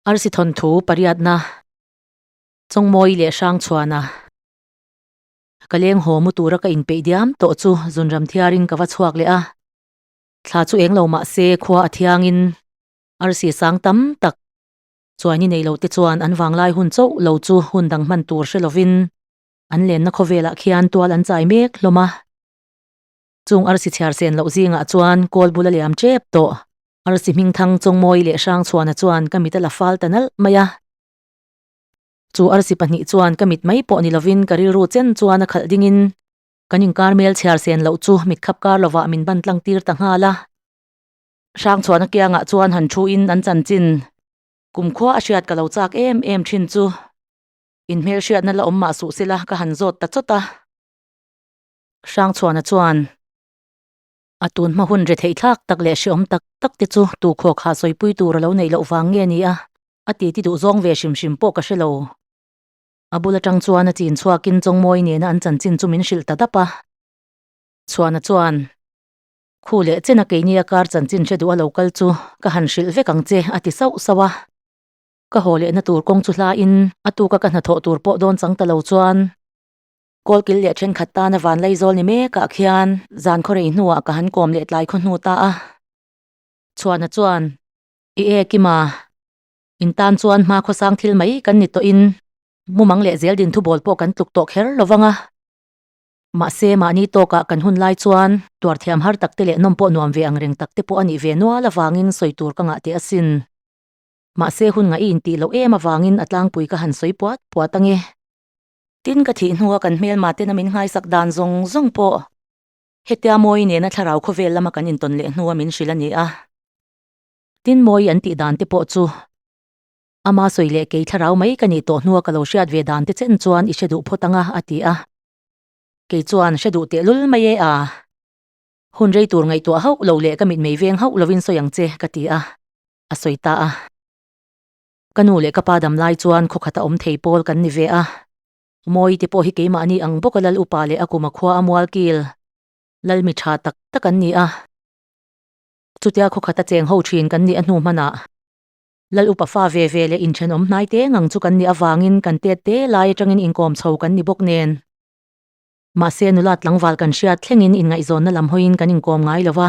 Arsi thawnthu pariatna chawngmawi leh hrang chhuahna ka leng haw mu tura ka inpeih diam tawh chu zun ram thiarin ka va chhuak leh a. Thla chu eng lo mah se khua a thiangin arsi sang tam tak chuai ni nei lo te chuan an vanglai hun chauh lo chu hun dang hman tur hre lovin an lenna khawvelah khian tual an chai mek hlawm a. Chung arsi chhiar sen loh zingah chuan kawl bula leh am chep tawh arsi hming thang chawngmawi leh hrangchhuana chuan ka mit a la fal ta nalh mai a. Chu arsi pahnih chuan ka mit mai pawh ni lovin ka rilru chen chuan a khalh dingin kan inkar hmel chhiar sen loh chu mit khap kar lovah min ban tlang tir ta nghal a. Hrangchhuana kiangah chuan han thuin an chanchin kumkhua a hriat ka lo chak em em thin chu. In hmelhriatna la awm mah suh sela ka han zawt ta chawt a. Hrangchhuahna chuan a tun hma hun retheih thlak tak leh hreawm tak tak te chu tu khawkha sawipui tur a lo neih loh vang nge ni a, a titi duh zawng ve hrim hrim pawh ka hre lo. A bul atang chuan a chin chhuakin Chawngmawi nena an chanchin chu min hrilh ta dap a. Chhuahna chuan khu leh chena keinia kar chanchin hre duh a lo kal chu ka han hrilh vek ang che a ti sauh sauh a. Ka haw lehna tur kawng chu hlain a tuka ka hna thawh tur pawh dawn chang ta lo chuan Kawl kil leh thenkhat tana vanlei zawl ni mekah khian zan khaw rei hnuah ka han kawm leh tlai khaw hnu ta a. Chhuahna chuan, I e Kima, in tan chuan hma khawsang thil mai kan ni tawhin mumang leh Zeldin thubawl pawh kan tluk tawh kher lo vang a. Mahse, mahni tawkah kan hun lai chuan tuar thiam har takte leh nawm pawh nuam ve ang reng takte pawh a nih ve nual avangin sawi tur ka ngah teh asin. Mahse, hun ngaih i intih loh em avangin a tlangpui ka han sawi puat puat ange. Tin ka thih hnua kan hmelma tena min nghaisak dan zawng zawng pawh hetia Mawi nena thlarau khawvel lama kan intawn leh hnua min hrilh a ni a. Tin Mawi an tih dan te pawh chu ama sawi leh kei thlarau mai ka nih tawh hnua ka lo hriat ve dan te chen chuan i hre duh phawt ang a, a ti a. Kei chuan hre duh tehlul mai e a. Hun rei tur ngaihtuah hauh lo leh ka mitmei veng hauh lovin sawi ang che ka ti a, a sawi ta a. Ka nu leh ka pa dam lai chuan khawkhat a awm thei pawl kan ni ve a. Mawi te pawh hi keimahni ang bawk a Lal upa leh a kuma khua a mual kil. Lal mi tha tak tak an ni a. Chutia khawkhat a cheng ho thin kan nih a hnu hmanah. Lal upa fa ve ve leh inthenawm hnai te ngang chu kan nih avangin kan tet te lai atangin inkawm chho kan ni bawk nen. Mahse nula tlangval kan hriat thlengin inngaihzawnna lam hawiin kan inkawm ngai lo va.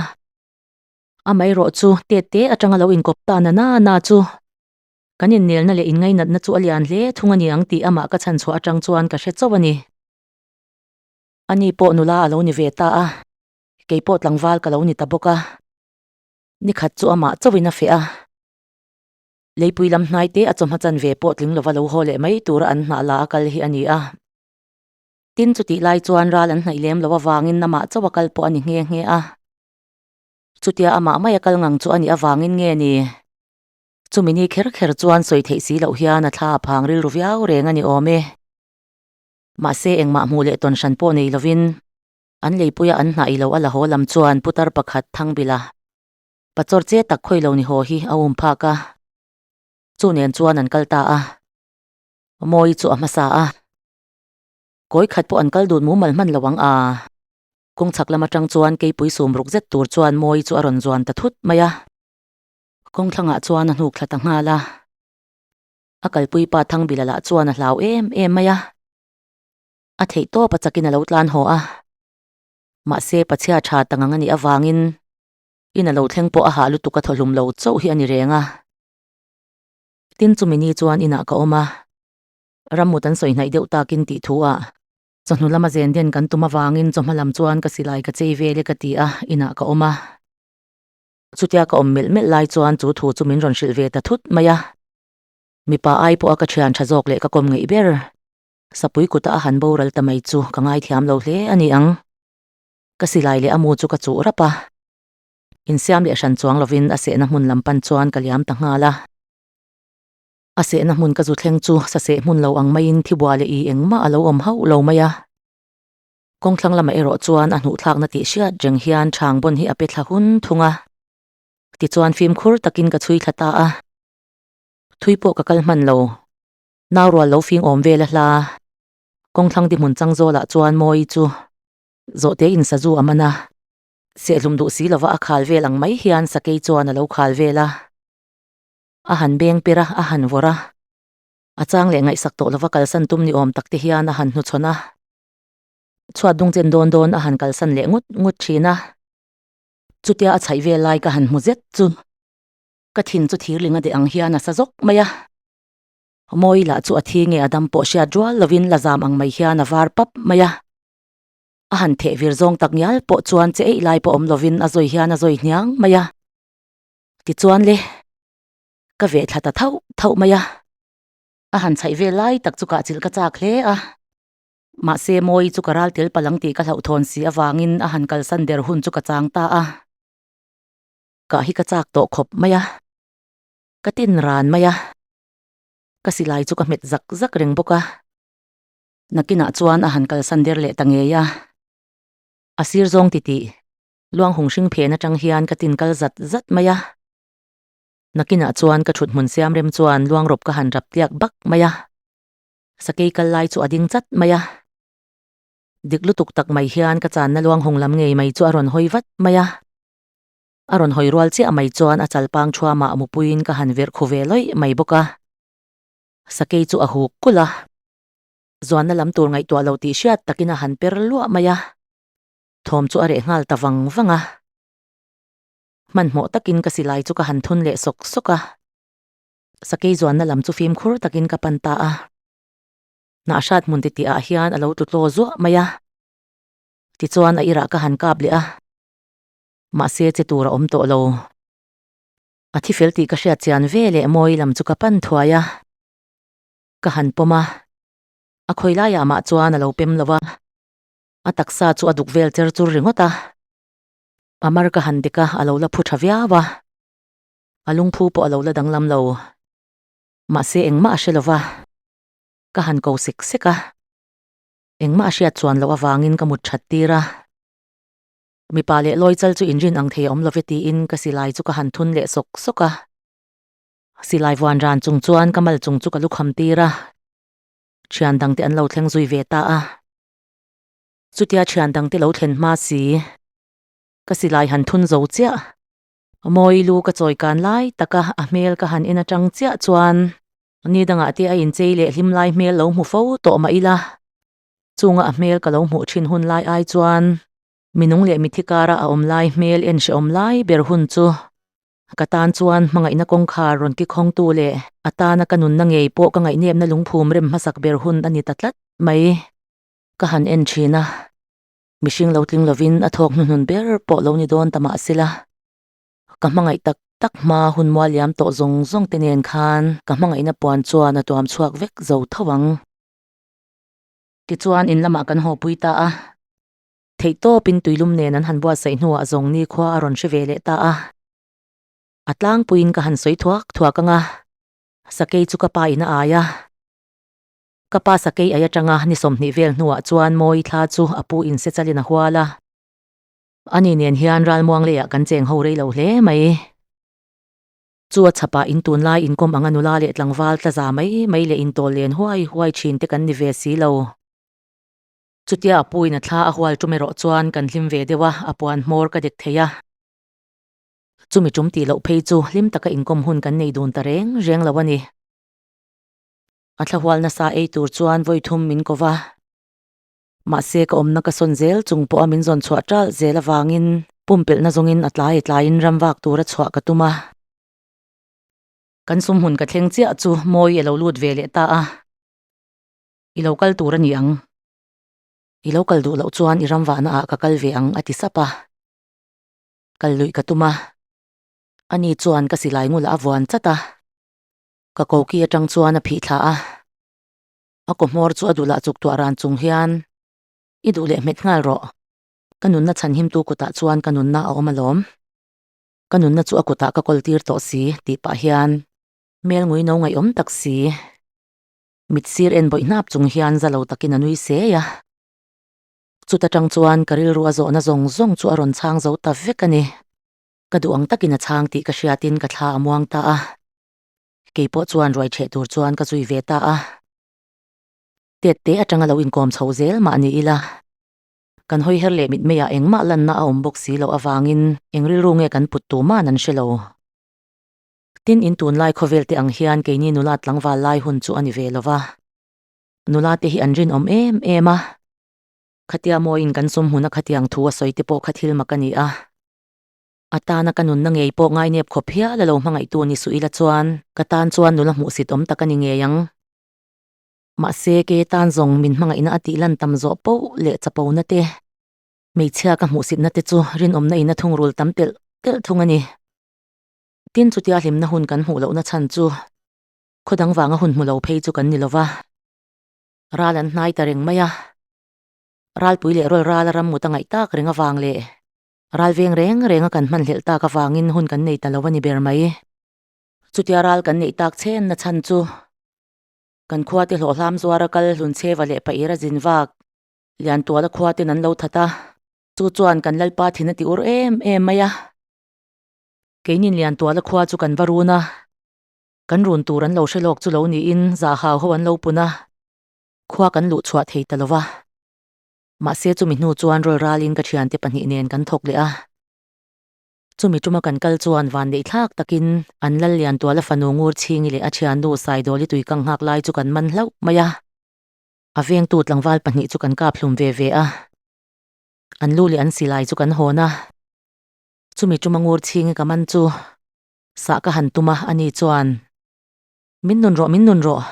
Amairawh chu Tet te atanga lo inkawp ta na nana chu kan innelna leh inngainatna chu a lian hle thung a niang tih amah ka chhan chhuah atang chuan ka hre chauh a ni. Ani pawh nula a lo ni ve ta a, keipawh tlangval ka lo ni ta bawk a, nikhat chu amah chauhin a feh a, Leipui lam hnai te a chawhma chan ve pawh tling lova lo haw leh mai tura an hnah la a kal hi a ni a. Tin chutih lai chuan ral an hnaih lem loh avangin amah chauh a kal pawh a ni nghe nghe a. Chutia amah maia kal ngang chu a nih avangin nge ni? Chumi ni kher kher chuan sawi theih si loh hian a thla a phang rilru viau reng a ni awm e. Mahse, engmah hmuh leh tawn hran pawh nei lovin, an leipuia an hnah ilo a la haw lam chuan putar pakhat Thangbila pachawr che tak khawi lo ni haw hi a um phak a. Chu nen chuan an kal ta a. Mawi chu a hmasa a. Kawi khat pawh an kal dun mumal hman lo ang a. Kawng chhak lam atang chuan keipui sum ruk zet tur chuan mawi chu a rawn zuan ta thut mai a. Kawng thlangah chuan a hnuk thla ta nghal a. A kalpui pa Thangbilal ah chuan a hlau em em mai a. A theih tawp a chakin a lo tlan haw a. Mahse pachhia tha tangang a nih avangin in a lo thleng pawh a hah lutuk a thaw hlum lo chauh hi a ni reng a. Tin chumi ni chuan inah ka awm a, ram mut an sawi hnaih deuh takin tih thu ah Chawhnu lama zen den kan tum avangin chawhma lam chuan ka silai ka chei vel e ka ti a, inah ka awm a. Chutia ka awm melh melh lai chuan chu thu chu min rawn hrilh ve ta thut mai a. Mipa ai pawha ka thian tha zawk leh ka kawm ngeih ber. Sapui kuta a han boral ta mai chu ka ngaithiam lo hle a ni ang. Ka silai leh a mu chu ka chuh rap a. Insiam leh hran chuang lovin a sehna hmun lam pan chuan ka liam ta nghal a. A sehna hmun ka zu thleng chu saseh hmun lo ang maiin thibua leh ih engmah a lo awm hauh lo mai a. Kawng thlang lamah erawh chuan a hnuh thlakna tih hriat reng hian Chhangbawn hi a pe thla hun thung a. Tichuan fimkhur takin ka chhui thla ta a. Thui pawh ka kal hman lo. Nau rual lo fing awm vel a hla. Kawng thlang dihmun chang zawlah chuan Mawi chu zawhte in sa zu a man a. Sehlum duh si lova a khal vel ang mai hian sakei chuan a lo khal vel a. A han beng pirh a, a han vawrh a, a chang leh ngaihsak tawh lova kalsan tum ni awm tak te hian a han hnuchhawn a, chhuat dung chen dawn dawn a han kalsan leh ngut ngut thin a, chutia a chhaih vel lai ka han hmu zet chu ka thin chu thirling a deh ang hian a sa zawk mai a, mawi lah chu a thi nge a dam pawh hriat rual lovin la zam ang mai hian a var pap mai a, a han theh vir zawng tak ngial pawh chuan che eih lai pawh awm lovin a zawi hian a zawi hniang mai a. Tichuan le ka ve thla ta thauh thauh mai a, a han chhaih vel lai tak chu kah chilh ka chak hle a, mahse Mawi chu ka ral tel palh ang tih ka hlauhthawn si avangin a han kalsan der hun chu ka chang ta a, kah hi ka chak tawh khawp mai a, ka tin ran mai a, ka silai chu ka hmet zak zak reng bawk a, nakinah chuan a han kalsan der leh ta ngei a, a sir zawng titih Luanghung hring phen atang hian ka tin kal zat zat mai a, nakinah chuan ka thut hmun siam rem chuan luang rawp ka han rap tiak bak mai a, sakei kal lai chu a ding chat mai a, dik lutuk tak mai hian ka channa luanghung lam ngei mai chu a rawn hawi vat mai a, a rawn hawi rual chiah mai chuan a chal pang thua mah mupuiin ka han verh khu ve lawih mai bawk a, sakei chu a huk kulh a, zuanna lam tur ngaihtuah lo tih hriat takin a han per luah mai a. Thawm chu a reh nghal ta vang vang a, hmanhmawh takin ka silai chu ka han thun leh sawk sawk a, sakei zuanna lam chu fimkhur takin ka pan ta a, hnah hrat hmun titi ah hian a lo tlu tlaw zuah mai a, tichuan a irah ka han kap leh a, mahse che tur a awm tawh lo, a thi fel tih ka hriat chian ve leh mawi lam chu ka pan thuai a, ka han pawm a, a khawi lai ah mah chuan a lo pem lo va, A taksa chu a duk vel cher chur ringawt a, a mar ka han bik a, a lo la phu tha viau a, a lungphu pawh a lo la danglam lo. Mahse engmah a hre lova ka han ko sek sek a, engmah a hriat chuan loh avangin ka mut that tir a. Mipa leh lawi chal chu inrin ang thei a awm love tiin ka silai chu ka han thun leh sawk sawk a. Silai vuan ran chung chuan ka mal chung chu ka lu kham tir a, thian dangte an lo thleng zui ve ta a, Chutia thian dangte lo thlen hma si, ka silai han thun zo chiah. Mawi lu ka chawi kan lai taka a hmel ka han en atang chiah chuan Nidanga te a inchei leh hlim lai hmel lo hmu fo tawh mah ila, chunga a hmel ka lo hmuh thin hun lai ai chuan minung leh mithikara a awm lai hmel en hrehawm lai ber hun chu Ka tan chuan hmangaihna kawngkhar rawn ki khawngtu leh a tana ka nunna ngei pawh ka ngaihnepna lungphum rem hmasak ber hun a ni ta tlat mai. Ka han en thin a, mihring lo tling lovin a thawk hnuhnun ber pawh lo ni dawn ta mah se la, ka hmangaih tak tak hma hun mualiam tawh zawng zawng te nen khan ka hmangaihna puan chuan a tuam chhuak vek zo tho ang. Tichuan in lamah kan hawpui ta a. Theih tawpin tuilum nen an han buatsaih hnuah zawng nikhua a rawn hre ve leh ta a. A tlangpuiin ka han sawi thuak thuak anga sakei chu ka pa in a ai a. Ka pa sakei ai atanga ni sawmhnih vel hnuah chuan mawi thla chu a pu in Sechalin a hual a. Ani nen hian ral Muangleiah kan cheng ho rei lo hle mai. Chu a chhapah in tunlai inkawm anga nula leh tlangval tla za mai mai leh intawl len huai huai thin te kan ni ve si lo. Chutia a puiin a thla a hual tum erawh chuan kan hlim ve deuh a, a puan hmawr ka dek thei a. Chumi tum tih loh phei chu hlim taka inkawm hun kan nei dun ta reng reng lo a ni. A thla hual nasa ei tur chuan vawi thum min ko va. Mahse ka awmna ka sawn zel chung pawha min zawn chhuah tal zel avangin pumpelhna zawngin a tlai tlaiin ram vak tura chhuah ka tum a. Kan sum hun ka thleng chiah chu mawi a lo lut ve leh ta a. I lo kal tur a ni ang. I lo kal duh loh chuan i ram vahna ah ka kal ve ang a ti sap a. Kal luih ka tum a. Ani chuan ka silai ngul ah a vuan chat a. Ka koki atang chuan a phih thlah a. A kaw hmawr chu a duh lah chuk tuah ran chung hian, I duh leh hmet nghal rawh. Ka nunna chhanhim tu kut ah chuan ka nunna a awm a lawm. Ka nunna chu a kut ah ka kawl tir tawh si tih pah hian, Hmelngui no ngaihawm tak si. mit sir en bawih hnap chung hian zalo takin a nui seh a, chuta tang chuan ka rilru a zawhna zawng zawng chu a rawn chhang zo ta vek a ni. Ka duh ang takin a chhang tih ka hriatin ka thla a muang ta a, keipawh chuan ruai chheh tur chuan ka zui ve ta a. Tet te atanga lo inkawm chho zel mah ni ila, kan hawi her leh mitmeiah engmah lanna a awm bawk si loh avangin eng rilru nge kan put tuman an hre lo. Tin, in tunlai khawvel te ang hian keini nula tlangval lai hun chu a ni ve lova. Nula te hi an rinawm em em a. Khatia mawiin kan sum hmuna khatiang thu a sawi te pawh kha thil mak a ni a. Atana ka nunna ngei pawh ngainep khawp hial a lo hmangaihtu ni suh ila chuan ka tan chuan nula hmuh sit awm tak a ni ngei ang. Mahse, kei tan zawng min hmangaihna a tih lan tam zawh poh leh chapona te, hmeichhia ka hmuh sitna te chu rinawmna ina thungrul tam telh telh thung a ni. Tin, chutia hlimna hun kan hmuh lohna chhan chu khaw dang vanga hun hmu lo phei chu kan ni lo va, ral an hnai ta reng mai a, ralpui leh rawl rala ram mut a ngaih tak reng avang leh ral veng reng renga kan hmanhlelh tak avangin hun kan nei ta lo a ni ber mai. Chutia ral kan neih tak chhenna chhan chu kan khuate hlawhhlam zuara kal hlun chheva leh pahira a zin vak, Liantuala khuaten an lo that a, chu chuan kan Lalpa thina ti ur em em mai a. Keinin lian tuala khua chu kan va run a, kan run tur an lo hre lawk chu lo niin zahau ho an lo pun a, khua kan luh chhuah thei ta lo va. Mahse chumi hnu chuan rawlralin ka thiante pahnih nen kan thawk leh a. Chumi tuma kan kal chuan van neih thlak takin an lal lian tuala fanu Ngurchhingi leh a thiannu Saidawli tuikang nghak lai chu kan man hlauh mai a. A vengtu tlangval pahnih chu kan kap hlum ve ve a, an lu leh an silai chu kan hawn a. Chumi tuma ngur chhingi ka man chu sah ka han tum a, ani chuan, Min nun rawh, min nun rawh,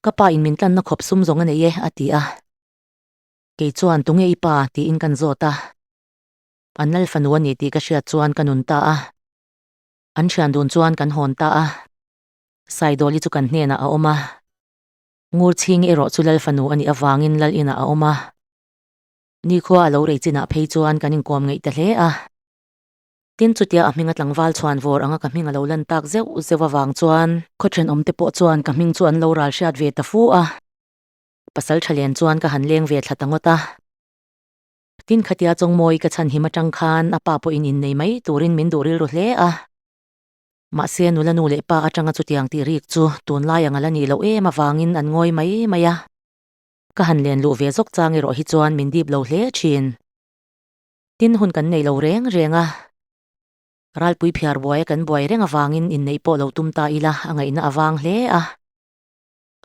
ka pa in min tlanna khawp sum zawng a nei e, a ti a. Kei chuan, Tunge i pa? tiin kan zawt a. A nal fanu a ni tih ka hriat chuan ka nun ta a. An thian dun chuan kan hawn ta a. Saidawli chu kan hnenah a awm a. Ngur chhingi erawh chu lal fanu a nih avangin lal inah a awm a. Nikhua a lo rei chinah phei chuan kan inkawm ngeih ta hle a. Tin chutia a hminga tlangval chhuan vawr anga ka hming a lo lan tak zeuh zeuh avang chuan. Khawthen awmte pawh chuan ka hming chu an lo ral hriat ve ta fu a. Pasal tha len chuan ka han leng ve thla ta ngawt a. Tin khatia chawngmawii ka chhanhim atang khan a pa pawhin innei mai turin min duh rilru hle a. Mahse nula nu leh pa atanga chutiang tih rik chu tunlai a ngal a nih loh em avangin an ngawi mai mai a. Ka han len luh ve zawk chang erawh hi chuan min dip lo hle thin. Tin hun kan neih lo reng reng a. Ralpui phiar buaia kan buai reng avangin inneih pawh lo tum ta ila a ngaihna a vang hle a.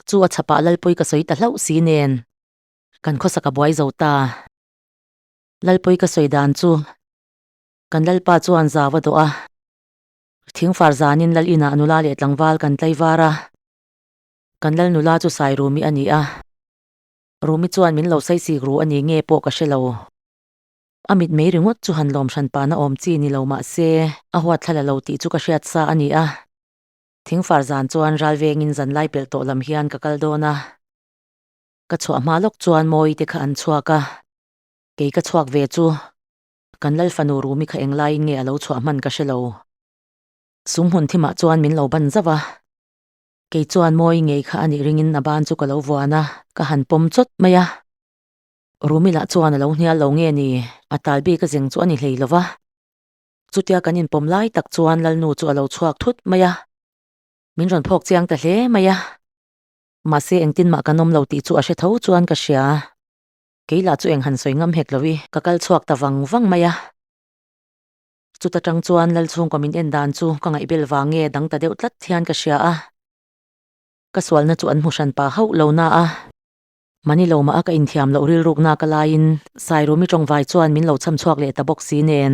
Chu a chhapah Lalpui ka sawi ta hlauh si nen kan khawsak a buai zo ta. Lalpui ka sawi dan chu kan Lalpa chuan zau a dawh a. Thingfar zanin Lal inah nula leh tlangval kan tlaivara Kan lal nula chu Sai Rumi a ni a, Rumi chuan min lo sai sik ru a ni nge pawh ka hre lo. A mitmei ringawt chu han lawm hran pahna awm chi ni lo mah se, a huat thla la lo tih chu ka hriat sa a ni a. Thing far zan chuan ral vengin zanlai pelh tawh lam hian ka kal dawn a. Ka chhuah hma lawk chuan mawi te kha an chhuak a, kei ka chhuak ve chu kan lal fanu Rumi kha eng laiin nge a lo chhuah hman ka hre lo. Sum hun thimah chuan min lo ban zauh a, Kei chuan mawi ngei kha a nih ringin a ban chu ka lo vuan a, ka han pawm chawt mai a. Rumila chuan a lo hnial lo nge ni? A tal bik a zeng chu a ni hlei lo va. Chutia kan inpawm lai tak chuan Lalnu chu a lo chhuak thut mai a, min rawn phawk chiang ta hle mai a. Mahse engtin mah kan awm lo tih chu a hre tho chuan ka hria. Kei lah chu eng han sawi ngam hek lo i, ka kal chhuak ta vang vang mai a. Chuta tang chuan Lal chhungkaw min en dan chu ka ngaihbel vang nge dang ta deuh tlat hian ka hria a, ka sualna chu an hmu hran pa hauh lo na a, mahni lo mah a ka inthiam loh rilruk na ka laiin Sai Rumi tawngvai chuan min lo chham chhuak leh ta bawk si nen.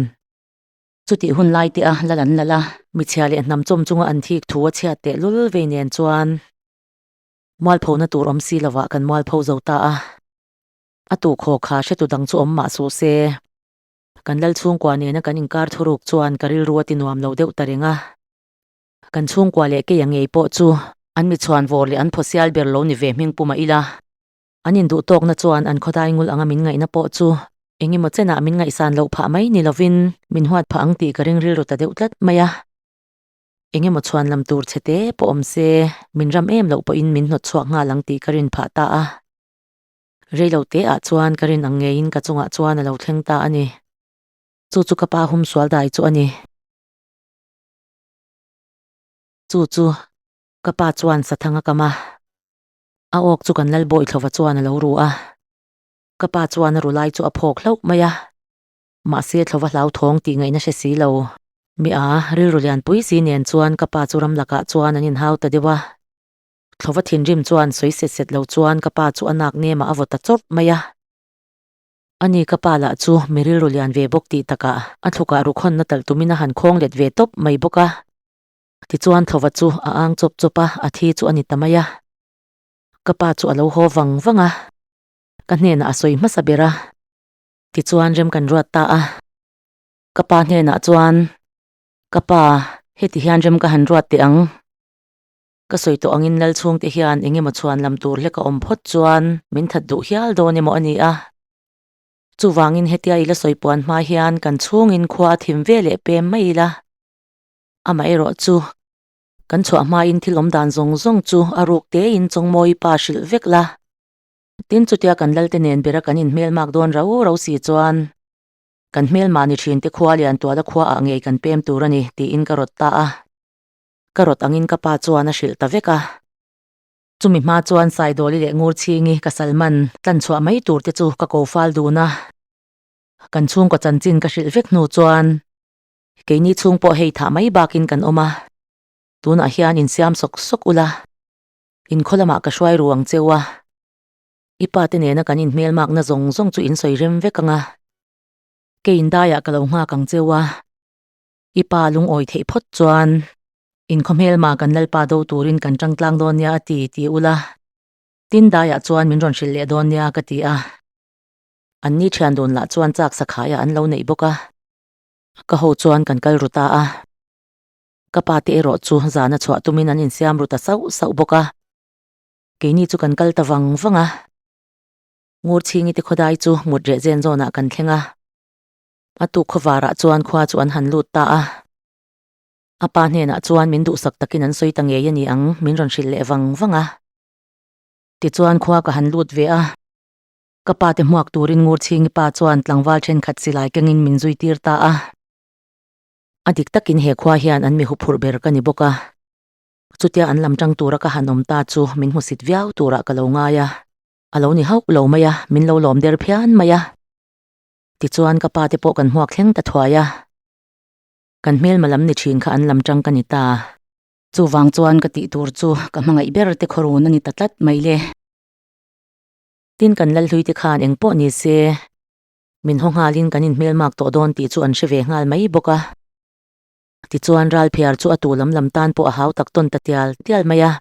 Chutih hun lai te a Lal an Lal a, mi chhia leh hnam chawm chunga an thik thu a chhiat teh lul vei nen chuan mual pho na tur awm si lo vah kan mual pho zo ta a, a tukhaw kha hretu dang chu awm mah suh se. Kan lal chhungkua nena kan inkar thu ruk chuan ka rilru a ti nuam lo deuh ta reng a. Kan chhungkua leh kei a ngei pawh chu an mi chhuan vawr leh an phaw sial ber lo ni ve hming puma ila. An induh tawkna chuan an khawdai ngul anga min ngaihna pawh chu eng emaw chenah min ngaihsan loh phah mai ni lovin min huat phah ang tih ka ring rilru ta deuh tlat mai a. Eng emaw chhuan lam tur chhe te pawh awm se min ram em loh pawhin min hnawt chhuak nghal ang tih ka rin phah ta a. Reilo teah chuan ka rin ang ngeiin ka chungah chuan a lo thleng ta a ni. Chu chu ka pa hum sual dai chu a ni. Chu chu ka pa chuan sathang a kam a. A awk chu kan lal bawi thlova chuan a lo ru a. Ka pa chuan a ru lai chu a phawk hlauh mai a. Mahse thlova hlau thawng tih ngaihna hre si lo. Mia rilru lianpui si nen chuan ka pa chu ram lakah chuan an inhau ta deuh a. Thlova thinrim chuan sawi set set lo chuan ka pa chu a nak nemah a vaw ta chawrh mai a. Ani ka pa lah chu mi rilru lian ve bawk tih takah a thlukah rukhawnna talh tumin a han khawng let ve tawp mai bawk a. Tichuan thlova chu a ang chawp chawp a, a thi chu a ni ta mai a. Ka pa chu a lo haw vang vang a, ka hnenah a sawi hmasa ber a, tichuan rem kan ruat ta a. Ka pa hnenah chuan, Ka pa, heti hian rem ka han ruat teh ang. Ka sawi tawh angin lal chhungte hian eng emaw chhuan lam tur hleka awm phawt chuan min that duh hial dawn emaw a ni a. Chuvangin hetia ila sawi puan hma hian kan chhungin khua a thim ve leh pem mai ila. Amaherawh chu, kan chhuah hmain thil awm dan zawng zawng chu a ruk tein Chawngmawi pa hrilh vek la. Tin, chutia kan lalte nen bera kan inhmel mak dawn rau rau si chuan kan hmelmahni thinte khua lian tuala khuaah ngei kan pem tur a ni, tiin ka rawt ta a. Ka rawt angin ka pa chuan a hrilh ta vek a. Chumi hma chuan Saidawli leh Ngurchingi ka Salman tlan chhuah mai tur te chu ka ko fal dun a. Kan chhungkaw chanchin ka hrilh vek hnu chuan keini chhung pawh hei thah mai bakin kan awm a. Tunah hian in siam sawk sawk ula in khaw lamah ka hruai ru ang cheu a. I pa te nena kan in hmel makna zawng zawng chu in sawi rem vek anga. Kei in daiah ka lo nghak ang cheu a. I pa lungawi theih phawt chuan, In khaw hmel mah kan Lalpa do turin kan tangtlang dawn nia a ti, ti ula. Tin daiah chuan min rawn hrilh leh dawn nia ka ti a. An ni thian dun lah chuan chak sakhaia an lo neih bawk a. Ka ho chuan kan kal ru ta a. Ka pa te erawh chu zana chhuah tumin an insiam ru ta sauh sauh bawk a. Keini chu kan kal ta vang vang a. Ngurchhingi te khaw dai chu ngut reh zen zawnah kan thleng a. A tukhaw varah chuan khua chu an han lut ta a. A pa hnenah chuan min duhsak takin an sawi ta ngei a ni ang, min rawn hrilh leh vang vang a. Tichuan khua ka han lut ve a. Ka pa te hmuak turin Ngurchhingi pa chuan tlangval thenkhat silai kengin min zui tir ta a. A dik takin he khua hian an mihu phurh ber ka ni bawk a. Chutia an lam tang tura ka han awm ta chu min hmusit viau turah ka lo ngai a. A lo ni hauh lo mai a, min lo lawm der phian mai a. Tichuan ka pa te pawh kan hmuak thleng ta thuai a, kan hmelma lam ni thin kha an lam tang ka ni ta. Chuvang chuan ka tih tur chu ka hmangaih ber te khaw run a ni ta tlat mai le. Tin kan Lalhlui te khan eng pawh ni se min haw nghal in kan inhmel mak tawh dawn tih chu an hre ve nghal mai bawk a. Tichuan Ralphiar chu a tu lam lam tan pawh a hau tak tawn ta tial tial mai a.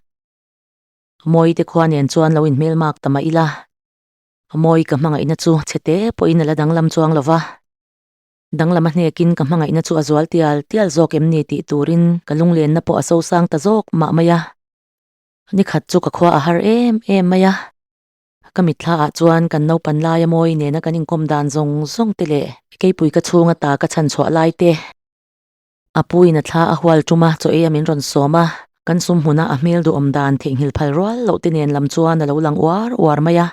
Mawite khua nen chuan lo inhmel mak ta mah ila. Mawi ka hmangaihna chu chhete pawhin a la danglam chuang lo va, danglam a hnekin ka hmangaihna chu a zual tial tial zawk em ni tih turin ka lunglenna pawh a sosang ta zawk mah mai a. Nikhat chu ka khua a har em em mai a, ka mitthla ah chuan kan naupan laia mawi nena kan inkawm dan zawng zawng te leh keipuika chhunga ta ka chhan chhuah lai te, A pu in a thla a hual tum a, chaw ei a min rawn sawm a, kan sum hmun a a hmel duhawm dan theihnghilh phal rual loh te nen lam chuan a lo lang uar uar mai a,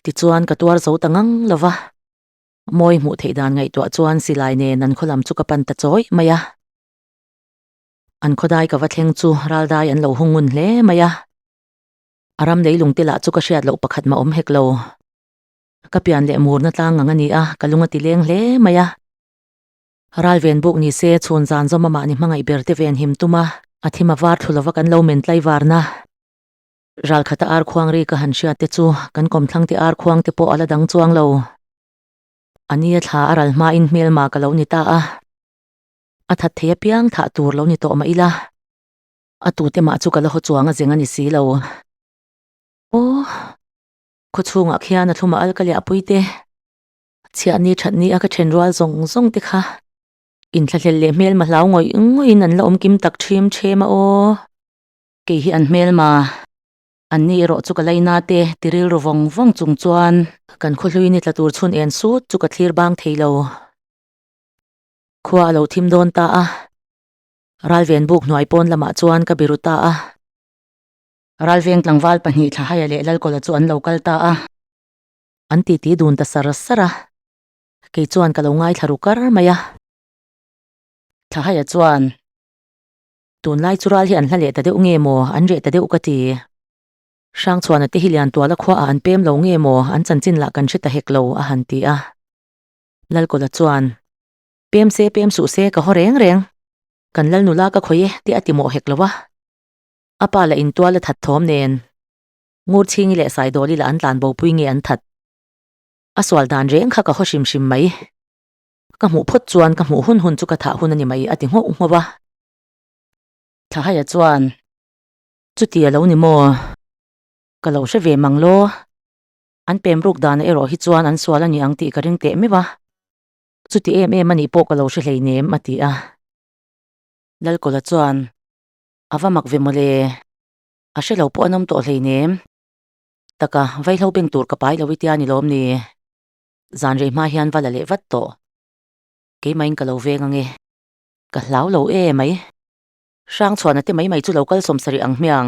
tichuan ka tuar zo ta ngang lo va, mawi hmuh theih dan ngaihtuah chuan silai nen an khawlam chu ka pan ta chawih mai a, an khawdai ka va thleng chu raldai an lo hung ngun hle mai a, a ram lei lung te lah chu ka hriat loh pakhat mah awm hek lo, ka pian leh murna tlang ang a ni a, ka lung a ti leng hle mai a. Ralven buk ni se, chhun zan zawm amah ni hmangaih ber te ven him tum a, a thim a var thlu lova kan lo men tlaivarna. Ral khata ar khuang ri ka han hriat te chu kan kawmthlang te ar khuang te pawh a la dang chuang lo. Ania thla a ral hma in hmel ma ka lo ni ta a, a that thei a piang thah tur lo ni tawh mah ila, a tu te mah chu ka la haw chuang a zeng a ni si lo. Aw! Khawchhungah khian a thlum a alkali a pui te. Chhiah ni that ni a ka then rual zawng zawng te kha in thla hlel leh hmel ma hlau ngawih ngawih in an la awm kim tak ṭhim ṭhim a aw. Kei hi an hmel ma an ni erawh chu ka lei na te ti ril ru vawng vawng chung chuan. Kan khawhlui ni tla tur chhun en sut chu ka thlir bang thei lo. Khua a lo thim dawn ta a, Ralven buk hnuai pawn lamah chuan ka biru ta a. Ralveng tlangval pahnih Thlahaya leh Lalkawla chu an lo kal ta a. an titi dun ta sar sar a, kei chuan ka lo ngaithla ru kar mai a. Thlahaia chuan, Tunlai chu ral hi an hla leh ta deuh nge maw, an reh ta deuh ka ti. Hrangchhuana te hi Liantuala khuaah an pem lo nge maw, an chanchin lah kan hre ta hek lo, a han ti a. Lalkawla chuan, Pem se pem suh se, ka haw reng reng. Kan Lalnu la ka khawih e, tih a ti mawh hek lo a. A pa la intual a that thawm nen. Ngurchhingi leh Saidawli lah an tlan bopui nge an that? A sual dan reng kha ka haw hrim hrim mai. Ka hmuh phawt chuan ka hmuh hun hun chu ka thah hun a ni mai a ti nghauh nghauh a. Thlahaia chuan, Chuti a lo ni maw? Ka lo hre ve mang law. An pem ruk danah erawh hi chuan an sual a ni ang tih ka ring teh meuh a. Chuti em em a nih pawh ka lo hre hleinem a ti a. Lalkawla chuan, A va mak ve maw le? a hre lo pawh a nawm tawh hleinem taka vaihlo beng tur ka pai lo i tia a ni lawm ni zan rei hma hian va la leh vat tawh keimah in ka lo veng ange ka hlau lo e mai hrang chhuahna te mai mai chu lo kalsawm sarih ang hmiang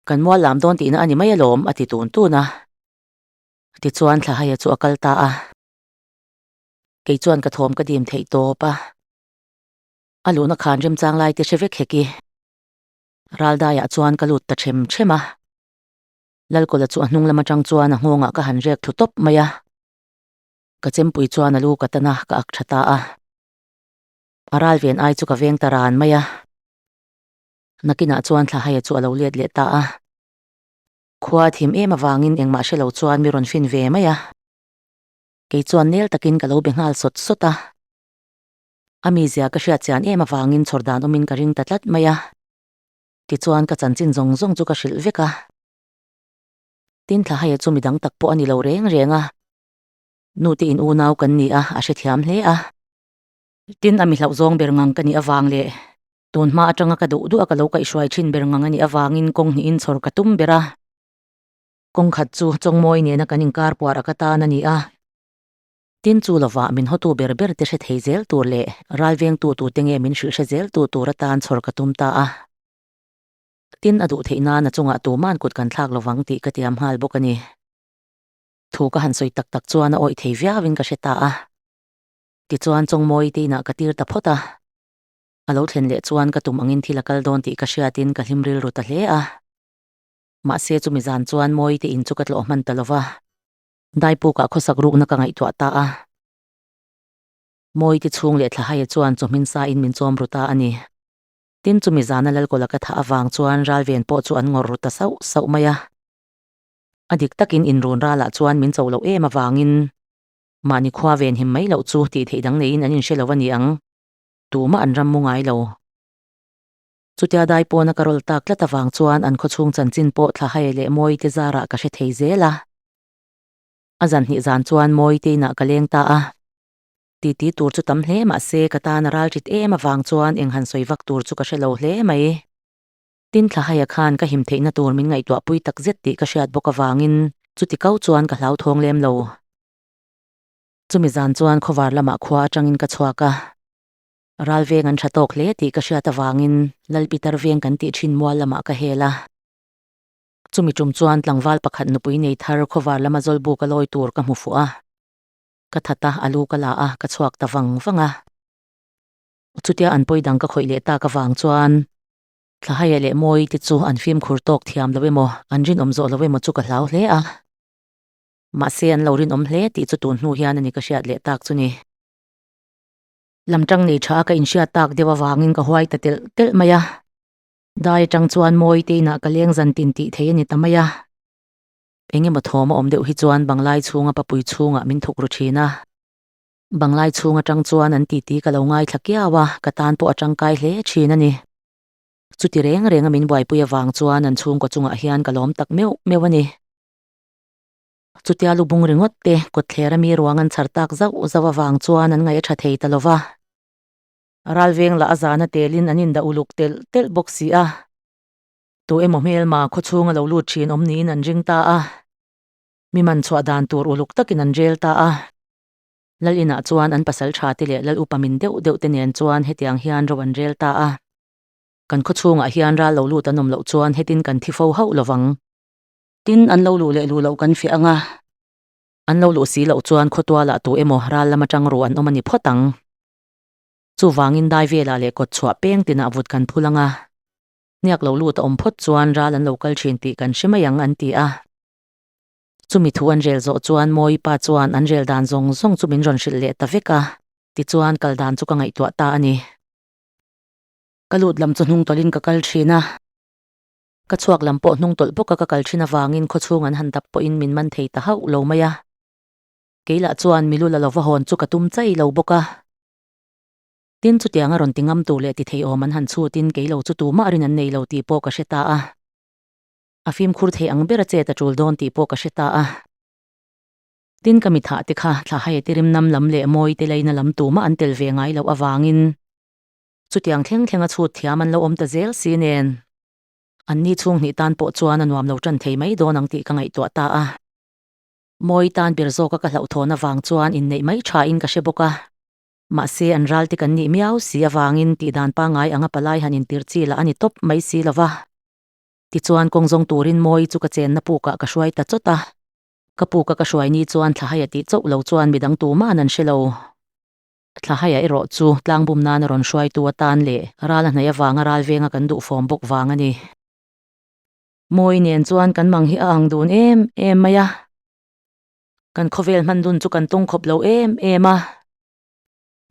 kan mual lam dawn tihna a ni mai alawm a ti tun tun a tichuan thlahhaia chu a kal ta a kei chuan ka thawm ka dim theih tawp a a luhna khan remchang lai te hre vek hek i. Raldaiah chuan ka lut ta ṭhem ṭhem a. Lalkawla chu a hnung lam aṭang chuan a nghawngah ka han rek thu tawp mai a. Ka chempui chuan a lu ka tan a, ka ak ṭha ta a. A ralven ai chu ka veng ta ran mai a. Nakinah chuan Thlahaia chu a lo let leh ta a. Khua a thim em avangin engmah hre lo chuan mi rawn fin ve mai a. Kei chuan nel takin ka lo be nghal sawt sawt a. A mizia ka hriat chian em avangin chhawr dan awmin ka ring ta tlat mai a. Tichuan ka chanchin zawng zawng chu ka hrilh vek a. Tin, thlaha hi chu midang tak pawh a ni lo reng reng a. Nu te in unau kan ni a, a hrethiam hle a. Tin, a mi hlauh zawng ber ngang ka nih avang leh tun hma atanga ka duh duh a ka lo kaih hruai thin ber ngang a nih avangin kawng hnihin chhawr ka tum ber a. Kawng khat chu Chawngmawi nena kan inkar puar aka tan a ni a. Tin, chu lovah min hawtu ber ber te hre thei zel tur leh ralvengtu tute nge min hrilh hre zel tu tur atan chhawr ka tum ta a. Tin, a duh theih nan a chungah tuman kut kan thlak lovang tih ka tiam nghal bawk a ni. Thu ka han sawi tak tak chuan a awih thei viau in ka hre ta a. Tichuan, Chawngmawi te inah ka tir ta phawt a. A lo thlen leh chuan ka tum angin thil a kal dawn tih ka hriat in ka hlim rilru ta hle a. Mahse, chumi zan chuan Mawite in chu ka tlawh hman ta lo va. Daipukah khawsak rukna ka ngaihtuah ta a, Mawite chhung leh Thlahaia chuan chu hmin sain min chawm ru ta a ni. Tin, chumi zana Lalkawla ka thah avang chuan Ralven pawh chu an ngawr ru ta sauh sauh mai a. A dik takin inrunralah chuan min cho loh em avangin mahni khua ve nhim mai loh chu tih theih dang neiin an inhre lo a ni ang. Tumah an ram mu ngai lo. Chutia dai pawna ka rawl tak tlat avang chuan an khawchhung chanchin pawh Thlahai leh Mawite zarah ka hre thei zel a. A zan hnih zan chuan Mawite inah ka leng ta a. Titi tur chu tam hle mahse ka tan a ral tit em avang chuan eng han sawi vak tur chu ka hre lo hle mai. Tin, Thlahaia khan ka him theihna tur min ngaihtuah pui tak zet tih ka hriat bawk avangin chuti kau chuan ka hlauthawng lem lo. Chumi zan chuan khawvar lamah khua atangin ka chhuak a. Ral veng an tha tawk hle tih ka hriat avangin Lalpi tar veng kan tih thin mual lamah ka hel a. Chumi tum chuan tlangval pakhat nupui nei thar khawvar lama zawl buk a lawi tur ka hmu fuh a. Ka that a, a lu ka la a, ka chhuak ta vang vang a. Chutia an pawi dang ka khawih leh tak avang chuan Thlahaia leh Mawi te chu an fimkhur tawk thiam lo emaw, an rinawm zawh lo emaw chu ka hlau hle a. Mahse an lo rinawm hle tih chu tun hnu hian a ni ka hriat leh tak chu ni. lam tang nei tha a ka inhriat tak deuh avangin ka huai ta telh telh mai a dai atang chuan mawi te inah ka leng zan tin tih theih a ni ta mai a eng emaw thawm a awm deuh hi chuan banglai chhunga papui chhungah min thuk ru thin a banglai chhung atang chuan an titi ka lo ngaithla kiau a ka tan pawh a tangkai hle thin a ni chuti reng reng a min buaipui avang chuan an chhungkaw chungah hian ka lawm tak meuh meuh a ni. Chutia lubung ringawt te kawtther a mi ruang an chhar tak zauh zauh avang chuan an ngaih a tha thei ta lo va. Ral veng lah a zana telin an indah uluk telh telh bawk si a. Tu emaw hmel mah khaw chhung a lo lut thin awm niin an ring ta a. Mi man chhuah dan tur uluk takin an rel ta a. Lal inah chuan an pasal tha te leh lal upa min deuh deuh te nen chuan hetiang hian ro an rel ta a. Kan khaw chhungah hian ral lo lut an awm loh chuan hetin kan thi fo hauh lo vang. Tin, an lo luh leh luh loh kan fiah ang a. An lo luh si loh chuan khawtuala tu emaw ral lama tang ruh an awm a ni phawt ang. Chuvangin dai velah leh kawt chhuah peng tinah vut kan phul ang a. Niak loh lut a awm phawt chuan ral an lo kal thin tih kan hre mai ang, an ti a. Chumi thu an rel zawh chuan Mawipa chuan an rel dan zawng zawng chu min rawn hrilh leh ta vek a, tichuan kal dan chu ka ngaihtuah ta a ni. Ka lut lam chu hnung tawlhin ka kal thin a. Ka chhuak lam pawh hnung tawlh bawka ka kal thin avangin khawchhung an han dap pawhin min man thei ta hauh lo mai a. Kei lah chuan milu la lova hawn chu ka tum chai lo bawk a. Tin chutianga rawn ti ngam tur leh ti theiawm an han chhutin kei lo chu tumah rin an nei lo tih pawh ka hre ta a. A fimkhur thei ang bera che ta tul dawn tih pawh ka hre ta a. Tin ka mithah te kha thlahaiete rimnam lam leh mawite laina lam tumah an tel ve ngai loh avangin Chutiang thleng thlenga chhut thiam an lo awm ta zel si nen, anni chhung hnih tan pawh chuan a nuam lo tan thei mai dawn ang tih ka ngaihtuah ta a. Mawi tan ber zawka ka hlauhthawn avang chuan inneih mai thain ka hre bawk a. Mahse an ral te kan nih miau si avangin tih dan pangai anga palai han intir chi la a ni tawp mai si lova. Tichuan kawng zawng turin Mawi chu ka chenna pukah ka hruai ta chawt a. Ka puka ka hruai ni chuan thlahaia tih chauh lo chuan midang tumân an hre lo. Thlahaia erawh chu tlangbum nan a rawn hruaitu atan leh rala hnaih avanga ral venga kan duh fawm bawk vang a ni. Mawi nen chuan kan mang hi a ang dun em em mai a, kan khawvel hman dun chu kan tawng khawp lo em em a.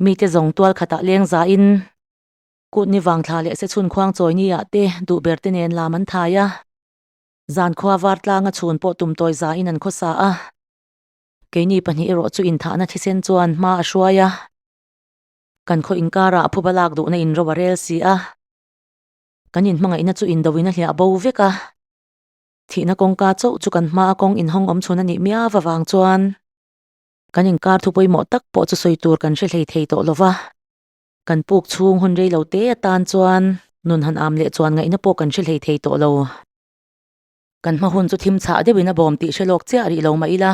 Mite zawng tual khatah leng za in kutni vangthla leh se chhun khuang chawini ah te duh ber te nen lam an thai a, zan khua var tlanga chhun pawh tum tawi za in an khawsa a. Keini pahnih erawh chu inthahna thisen chuan hma a hruai a, kan khaw inkara a phuba lak duhna in ro a rel si a, kan inhmangaihna chu indo in a hliah bo vek a, thihna kawngka chauh chu kan hma a kawng inhawng awm chhun a nih miau avang chuan kan inkar thu pawimawh tak pawh chu sawi tur kan hre hlei thei tawh lova, kan puk chhung hun rei lo te atan chuan nun han am leh chuan ngaihna pawh kan hre hlei thei tawh lo. Kan hma hun chu thim chhah deuhin a bawm tih hre lawk chiah rih lo mah ila,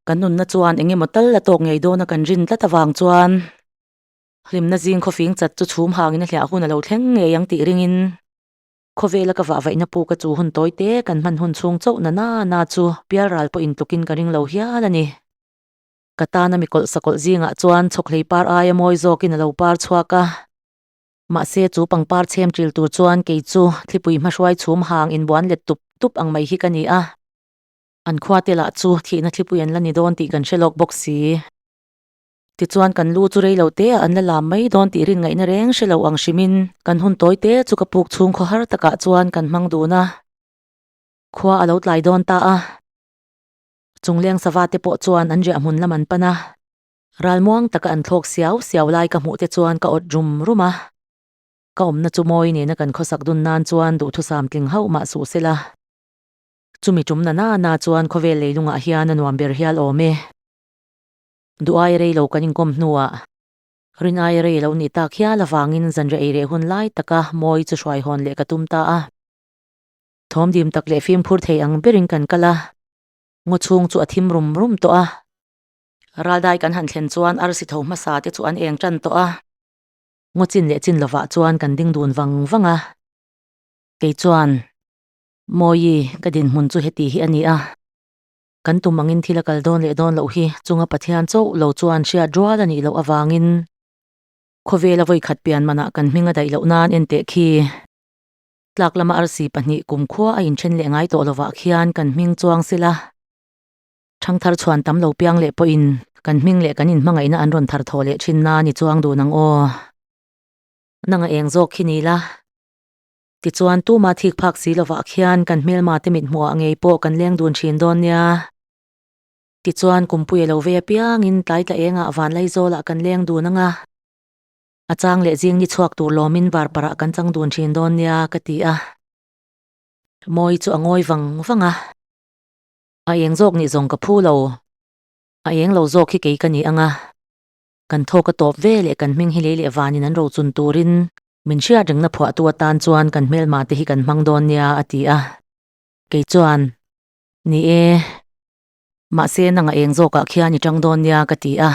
ka nunna chuan eng emaw tal a tawk ngei dawn a kan rin tlat avang chuan hlimna zing khaw fing chat chu chhum hangin a hliah hun a lo thleng ngei ang tih ringin khawvela ka vah vaihna pu ka chu hun tawi te kan hman hun chhung chauh nana na chu pialral pawh in tlukin ka ring lo hial a ni. Ka tana mi kawlh sa kawlh zingah chuan chhawkhlei par aia mawi zawkin a lo par chhuak a. Mahse, chu pangpar chhem ṭil tur chuan kei chu thlipui hmahruai chhum hang inbuan let tup tup ang mai hi ka ni a, an khuate lah chu thihna thlipui an la ni dawn tih kan hre lawk bawk si. Tichuan, kan lu chu rei lo teah an la lam mai dawn tih rin ngaihna reng hre lo ang hrimin, kan hun tawi te chu ka puk chhung khaw har takah chuan kan hmang dun a, khua a lo tlai dawn ta a, chungleng sava te pawh chuan an riah hmun lam an pan a. Ral muang taka an thlawk siau siau lai ka hmuh te chuan ka awt rum rum a. Ka awmna chu mawi nena kan khawsak dun nan chuan duhthusam tling hauh mah suh sela. Chumi tum na nana chuan khawvel leilungah hian a nuam ber hial awm e. Duhai rei lo kan inkawm hnuah. Rinai rei lo nih tak hial avangin zanria ei reh hun lai taka mawi chu hruai hawn leh ka tum ta a. Thawm dim tak leh fimkhur thei ang berin kan kal a. Ngaw chhung chu a thim rum rum tawh a. Raldai kan han thlen chuan arsi tho hmasa te chu an eng tan tawh a. Ngaw chin leh chin lovah chuan kan ding dun vang vang a. Kei chuan Mawii ka dinhmun chu heti hi a ni a. Kan tum angin thil a kal dawn leh dawn loh hi chunga Pathian chauh lo chuan hriat rual a nih loh avangin khawvela vawikhat pian manah kan hming a daih loh nan en teh khi tlak lama arsi pahnih kumkhua a inthen leh ngai tawh lovah khian kan hming chuang sela. Chhang thar chhuan tam lo piang leh pawhin kan hming leh kan inhmangaihna an rawn thar thawh leh thin na ni chuang dun ang aw. Nanga eng zawk khi ni la. Tichuan tuma thik phak si lovah khian kan hmelma te mithmuhah ngei pawh kan leng dun thin dawn nia. Tichuan kumpuia lo vei apiangin tlai tla engah vanlei zawlah kan leng dun anga. A chang leh zing ni chhuak tur lawmin varparah kan chang dun thin dawn nia ka ti a. Mawi chu a ngawi vang vang a. A eng zawk nih zawng ka phu lo, a eng lo zawk hi kei ka ni ang a, kan thaw ka tawp ve leh kan hming hi lei leh vanin an ro chun turin min hriat rengna phuahtu atan chuan kan hmelma te hi kan hmang dawn nia a ti a, kei chuan Ni e, mahse nang a eng zawkah khian i tang dawn nia ka ti a,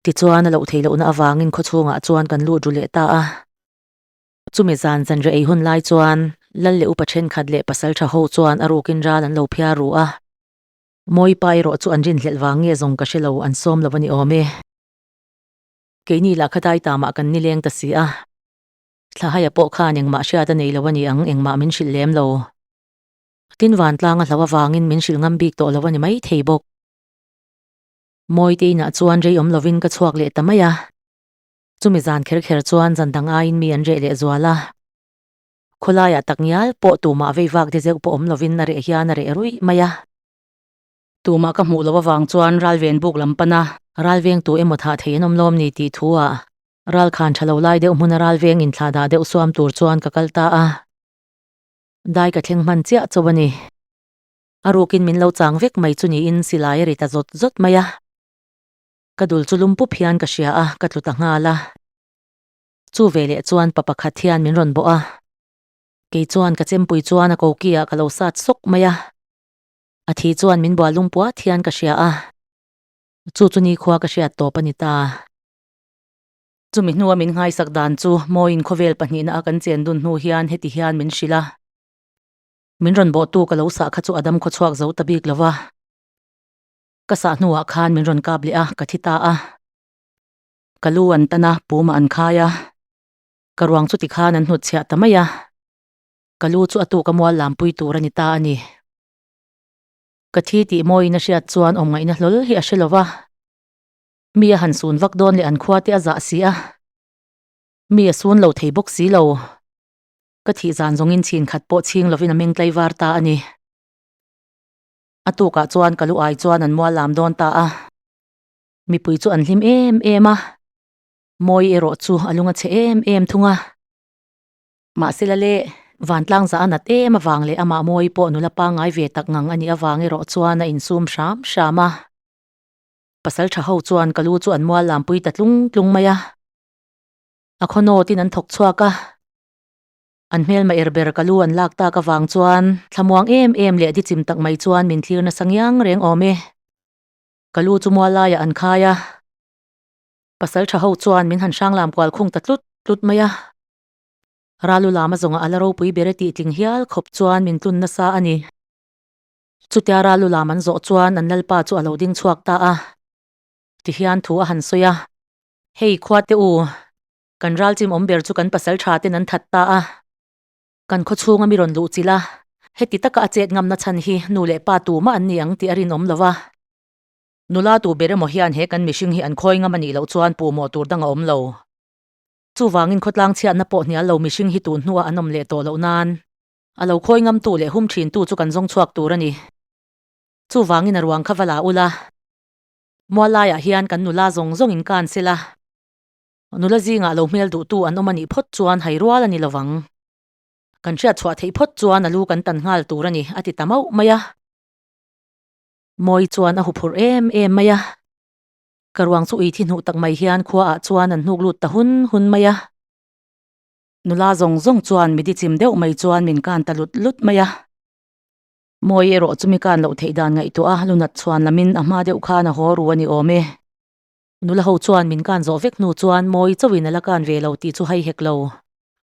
tichuan a loh thei lohna avangin khawchhungah chuan kan lut ru leh ta a. Chumi zan zanriah ei hun lai chuan Lal leh upa thenkhat leh pasaltha ho chuan a rukin ral an lo phiar ru a. Mawipa erawh chu an rinhlelh vang nge zawng ka hre lo, an sawm lo a ni awm e. Keini lah kha dai ta mah kan ni leng ta si a. Thlahaia pawh khan engmah hriat a nei lo a ni ang, engmah min hrilh lem lo. Tin vantlang a hlau avangin min hrilh ngam bik tawh lo a ni maithei bawk. Mawite inah chuan rei awm lovin ka chhuak leh ta mai a. Chumi zan kher kher chuan zan dang aiin mi an reh leh zual a. Khawlaiah tak ngial pawh tumah vei vak de zeuh pawh awm lovin a reh hian a reh ruih mai a. Tumah ka hmuh loh avang chuan ral ven buk lam pana ral veng tu emaw thah thei an awm lawm ni tih thua ral khan tha lo lai deuh hmuna ral veng in thlah dah deuh suam tur chuan ka kal ta a. Dai ka thleng hman chiah chauh a ni. A rukin min lo chang vek mai chu niin silai a ri ta zawt zawt mai a. Ka dul chu lum pup hian ka hria a, ka tlu ta nghal a. Chu ve leh chuan pa pakhat hian min rawn bawh a. Kei chuan ka chempui chuan a koki ah ka lo sat sawk mai a. A thi chuan min bual lung puat hian ka hria a. Chu chu nikhua ka hriat tawp a ni ta. Chumi hnua min nghaisak dan chu mawiin khawvel pahnihna a kan chen dun hnu hian heti hian min hrilh a. Min rawn bawhtu ka lo sah kha chu a dam khawchhuak zo ta bik lo va. Ka sah hnuah khan min rawn kap leh a, ka thi ta a. Ka lu an tan a, puma an khai a. Ka ruang chu tikhan an hnut chhiah ta mai a. Ka lu chu a tu ka mual lam pui tur a ni ta a ni. Ka thi tih mawiin a hriat chuan awm ngaihna hlawl hi a hre lo va. Mi a han sun vak dawn leh an khua te a zah si a. Mi a sun lo thei bawk si lo. Ka thih zan zawngin chhin khat pawh chhing lovin a meng tlaivar ta a ni. A tukah chuan ka lu ai chuan an mual lam dawn ta a. Mipui chu an hlim em em a, Mawi erawh chu a lung a chhe em em thung a. Mahse la le, Vantlang zah a nat em avang leh amah Mawi pawh nula pangngai ve tak ngang a nih avang erawh chuan a insum hram hram a. Pasal tha ho chuan ka lu chu an mual lampui ta tlung tlung mai a. A khaw nawtin an thawk chhuak a. An hmelma er ber ka lu an lak tak avang chuan thlamuang em em leh dichim tak mai chuan min thlir nasa ngiang reng awm e. Ka lu chu mual laiah an khai a, pasal tha ho chuan min han hrang lam kual khung ta tlut tlut mai a. Ralu lama zawngah a la ropui ber e tih tling hial khawp chuan min tlun nasa a ni. Chutia Ralu lam an zawh chuan an lalpa chu a lo ding chhuak ta a ti hian thu a han sawi a. Hei khuate u, Kan ralchim awm ber chu kan pasal tha ten an that ta a, kan khawchhunga mi rawn luh chilh a, heti taka a chet ngamna chhan hi nu leh pa tumah an ni ang tih a rinawm lo va. Nula tu ber emaw hian he kan mihring hi an khawi ngam a nih loh chuan pu mawh tur dang a awm lo. Chuvangin khawtlang chhiatna pawh hnial lo mihring hi tun hnuah an awm leh tawh loh nan, a lo khawi ngamtu leh hum thintu chu kan zawng chhuak tur a ni. Chuvangin a ruang kha va la ula, mual laiah hian kan nula zawng zawngin kan sel a. Nula zingah lo hmel duhtu an awm a nih phawt chuan hai rual a ni lo vang. Kan hriat chhuah theih phawt chuan a lu kan tan nghal tur a ni, a ti ta mauh mai a. Mawi chuan a hu phurh em em mai a. Ka ruang chu ui thi hnuh tak mai hian khua ah chuan an hnuk lut ta hun hun mai a. Nula zawng zawng chuan mi di chim deuh mai chuan min kan ta lut lut mai a. Mawi erawh chu mi kan loh theih dan ngaihtuah a, lu nat chhuan lamin a hma deuh khan a haw ru a ni awm e. Nula ho chuan min kan zawh vek hnu chuan mawi chauhin a la kan ve lo tih chu hai hek lo.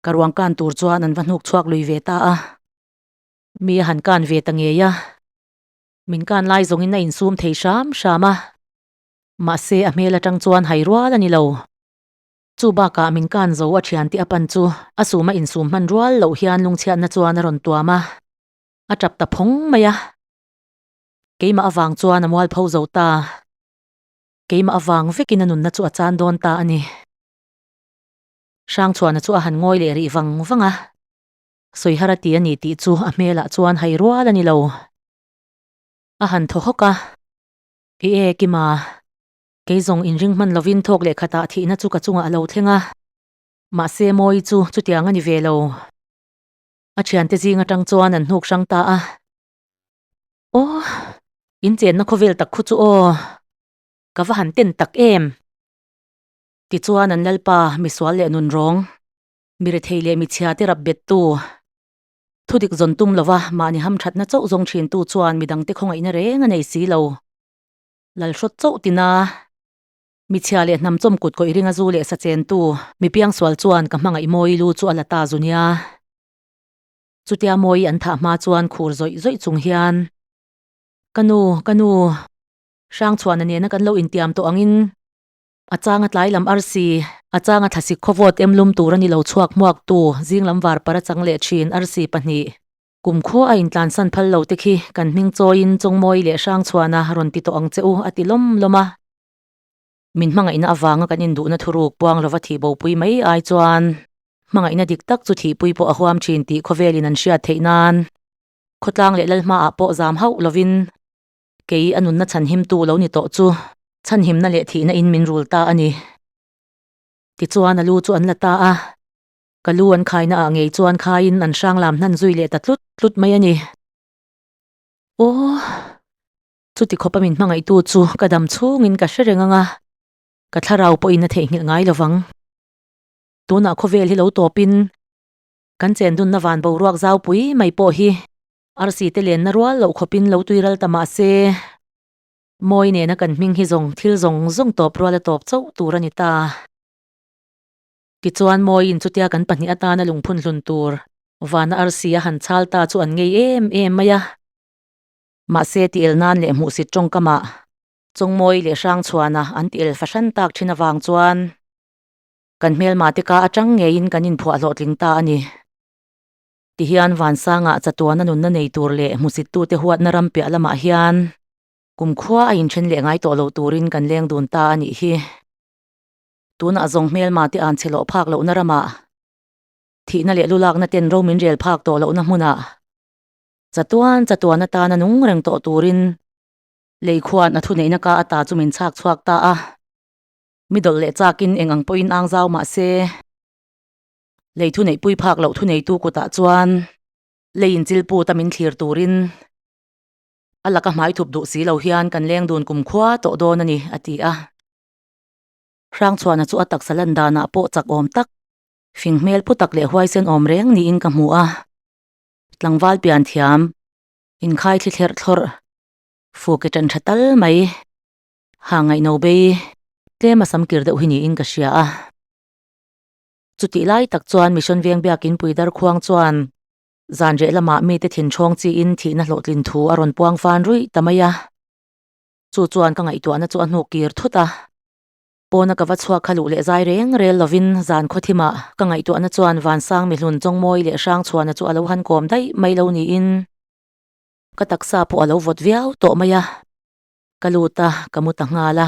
Ka ruang kan tur chuan an va hnuk chhuak lui ve ta a, mi a han kan ve ta ngei a, min kan lai zawngin a insum thei hram hram a, mahse a hmel atang chuan hai rual a ni lo. Chu bakah min kan zo a thian tih a pan chu a sum a insum hman rual loh hian lungchhiatna chuan a rawn tuam a, a tap ta phawng mai a, keimah avang chuan a mual pho zo ta. Keimah avang vekin a nunna chu a chan dawn ta a ni. Hrangchhuahna chu a han ngawi leh rih vang vang a. Sawihar a ti a nih tih chu a hmelah chuan hai rual a ni lo. A han thaw hawk a. I e, Kima, kei zawng in ring hman lovin thawk leh khatah thihna chu ka chungah a lo thleng a. Mahse Mawi chu chutiang a ni ve lo. A thiante zing atang chuan an hnuk hrang ta a. Aw, inchenna khawvel tak khaw chu aw, ka va han ten tak em! Tichuan an lalpa misual leh nunrawng, mi rethei leh mi chhiate rap bettu, thudik zawn tum lova mahni ham thatna chauh zawng thintu chuan mi dangte khawngaihna reng a nei si lo. Lal hrawt chauh tina, mi chhia leh hnam chawm kut kawih ringa zu leh sa chentu, mi piangsual chuan ka hmangaih mawi lu chu a la ta zu nia. Chutia mawi an thah hma chuan khur zawih zawih chung hian, Ka nu, ka nu, Hrangchhuahna nena kan lo intiam tawh angin a changa tlai lam ar si, a changa thlasik khawvawt em lum tur a ni lo chhuak hmuak tu zing lam var para chang leh thin ar si pahnih kum khaw a intlan san phal lo te khi kan hming chawiin Chawngmawi leh Hrangchhuahna rawn ti tawh ang che u a ti lawm lawm a. Min hmangaihna avanga kan induhna thuruk puang lova thih bopui mai ai chuan hmangaihna dik tak chu thihpui pawh a huam thin tih khawvelin an hriat theih nan khawtlang leh lal hmaah pawh zam hauh lovin kei a nunna chhanhimtu lo ni tawh chu chhanhimna leh thihna in min rul ta a ni. Tichuan a lu chu an la ta a, ka lu an khaina ah ngei chuan khaiin an hranglam hnan zui leh ta tlut tlut mai a ni. Aw! Chuti khawpa min hmangaihtu chu ka dam chhungin ka hre reng ang a, ka thlarau pawhin a theihnghilh ngai lo vang. Tunah khawvel hi lo tawpin kan chendunna van boruak zaupui mai pawh hi arsi te lenna rual loh khawpin lo tui ral ta mah se, mawi nena kan hming hi zawng thil zawng zawng tawp ruala tawp chauh tur a ni ta. Tichuan mawiin chutia kan pahnih atana lungphun hlun tur vana arsi a han chhal ta chu an ngei em em mai a. Mahse, tihel nan leh hmuhsit tawngkamah Chawngmawi leh Hrangchhuana an tihel fahran tak thin avang chuan kan hmelma te ka atang ngeiin kan inphuah hlawhtling ta a ni. Ti hian Vansanga chatuana nunna nei tur leh hmusittute huatna ram piah lamah hian kumkhua a inthen leh ngai tawh loh turin kan leng dun ta a nih hi. Tunah zawng hmelma te an chhilawh phak lohna ramah thihna leh lulakna ten romin rel phak tawh lohna hmunah Chatuan chatuan atana nung reng tawh turin lei khuan a thuneihna ka ata chu min chhak chhuak ta a, mi dawlh leh chakin eng ang pawh inang zau mah se lei thuneih pui phak loh thuneitu kutah chuan lei inchil put a min thlir turin a laka hmaithup duh si lo hian kan leng dun kum khua tawh dawn a ni, a ti a. Hrangchhuana chu a taksa lan danah pawh chak awm tak, fing hmel pu tak leh huaisen awm reng niin ka hmu a. Tlangval pian thiam inkhai thli thlerh thlawrh fuh ke ṭan ṭha tal mai ha ngaihno bei tlem a sam kir deuh hi niin ka hria a. Chutih lai tak chuan Mission veng biakin Puidar khuang chuan zan reh lamah mite thinhrawng chiin thihna hlawhtlin thu a rawn puang fân ruih ta mai a, chu chuan ka ngaihtuahna chu a hnuk kir thut a. Pawna ka va chhuak kha luh leh zai reng rel lovin zan khawthima ka ngaihtuahna chuan vansang mihlun chawngmawi leh hrangchhuana chu a lo han kawm daih mai lo niin ka taksa pawh a lo vawt viau tawh mai a, ka lut a ka mu ta nghal a.